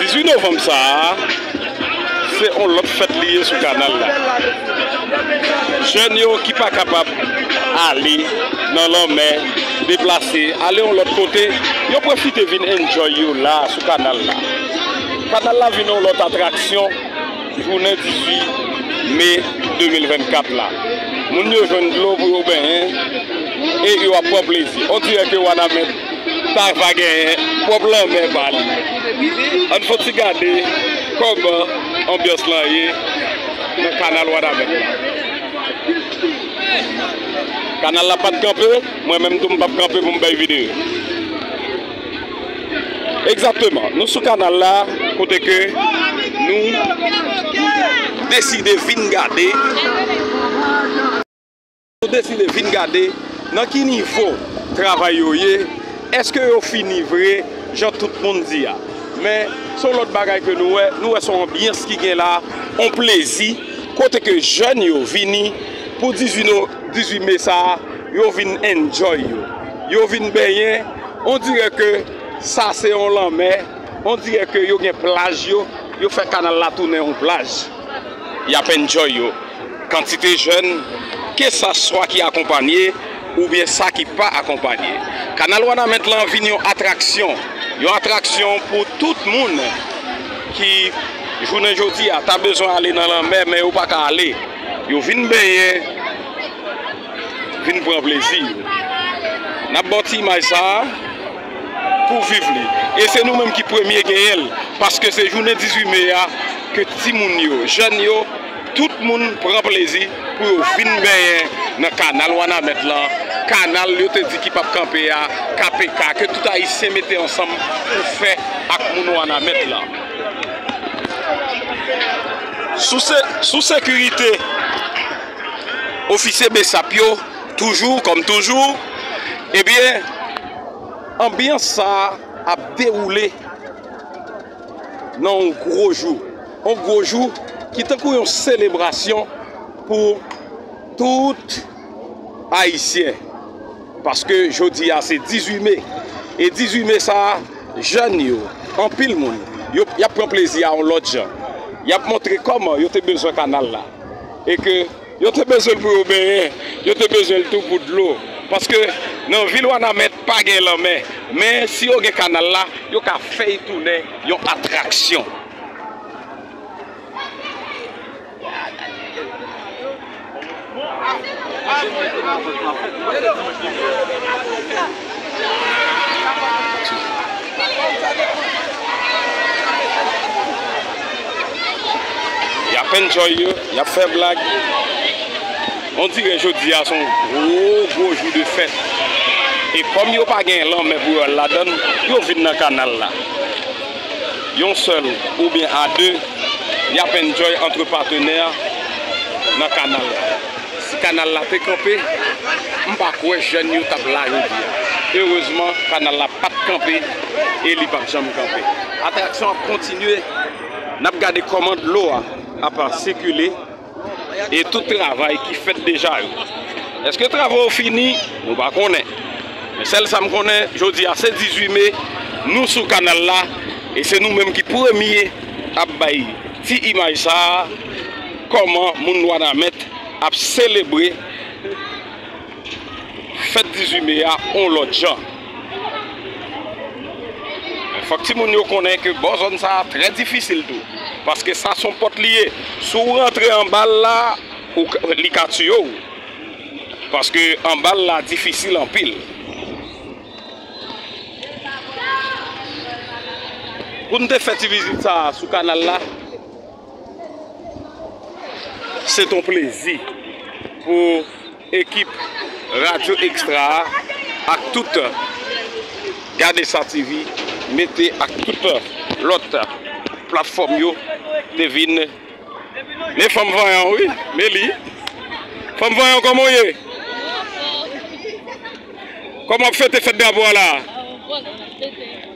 18 novanm sa a, se yon lòt fèt li ye sou kanal la. Jèn yo ki pa kapab ale nan lanmè, deplase, ale yon lòt kote, yo pwofite vin enjoy yo la a sou kanal la. Kanal la vin yon lòt atraksyon jounen 18 me 2024 la. Moun yo jwenn dlo pou yo benyen e yo ap pran plezi. Ondirè ke Wanament. Sa va genyen pwòp lanmè pa li. Ann fon ti gade kòman anbyans lan ye nan kanal Wanament la. Kanal la pat kanpe, mwen menm tou m pap kanpe pou m bay videyo. Egzakteman, nou sou kanal la kote ke nou deside vin gade. Nou deside vin gade nan ki nivo travay yo ye, eske yo fini vre jan tout moun di a. Men, se yon lòt bagay ke nou wè, nou wè se yon anbyans ki gen la, yon plezi, kote ke jèn yo vini pou 18 me sa a, yo vin enjoy yo. Yo vin benyen, on dirè ke sa se yon lanmè, on dirè ke yo gen plaj yo, yo fè kanal la tounen yon plaj. Y ap enjoy yo. Kantite jèn, ke sa swa ki akonpanye oubyen sa ki pa akonpanye. Kanal Wanament lan vin yon atraksyon. Yon atraksyon pou tout moun ki jounen jodi a ta bezwen ale nan lanmè men yo pa ka ale. Yo vin benyen, vin pran plezi yo. N ap ba w ti imaj sa a. pou viv li e se nou menm ki premye genyen l paske se jounen 18 me a ke timoun yo, jèn yo, tout moun pran plezi pou yo vin benyen nan kanal wanament lan, kanal yo te di ki pap kanpe a, KPK, ke tout ayisyen mete ansanm pou fè ak moun wanament lan. Sou sekirite ofisye bsap yo toujou kòm toujou ebyen. Anbyans sa a ap dewoule nan yon gwo jou, yon gwo jou ki tankou yon selebrasyon pou tout Ayisyen. Paske jodi a se 18 me, e 18 me sa a, jèn yo, anpil moun, yo ap pran plezi a yon lòt jan. Y ap montre kòman yo te bezwen kanal la e ke. Yo te bezwen l pou yo benyen, yo te bezwen l tou pou dlo, paske nan vil Wanament pa gen lanmè. Men, si yo gen kanal la, yo ka fè y tounen yon atraksyon. Y ap enjoy yo, y ap fè blag. On dirè jodi a se yon gwo gwo jou de fèt. E kòm yo pa gen lanmè pou yo al ladan l, yo vin nan kanal la. Yon sèl oubyen a de, y ap enjoy antre patenè nan kanal la. Si kanal la te kanpe, m pa kwè jèn yo t ap la jodi a. Erezman, kanal la pa t kanpe e li p ap janm kanpe. Atraksyon an ap kontinye. N ap gade kòman dlo a ap sikile e tout travay ki fèt deja yo. Èske travo yo fini? Nou pa konnen. Men sèl sa m konnen, jodi a se 18 me, nou sou kanal la e se nou menm ki premye ap bay ti imaj sa a. Kòman moun Wanament ap selebre fèt 18 me a on lòt jan? Men fòk timoun yo konnen ke bò zòn sa a trè difisil tou. Paske sa son pòt li ye. Si w rantre anba l la, li ka tiye w. Paske anba l la difisil anpil. Pou n te fè ti vizit sa a sou kanal la. Se t on plezi pou ekip Radyo Extra a ak tout Gadesatv mete ak tout lòt platfòm yo te vin Men fanm vanyan wi Meli Fanm vanyan kòman w ye Kòman w ap fete fèt drapo a la a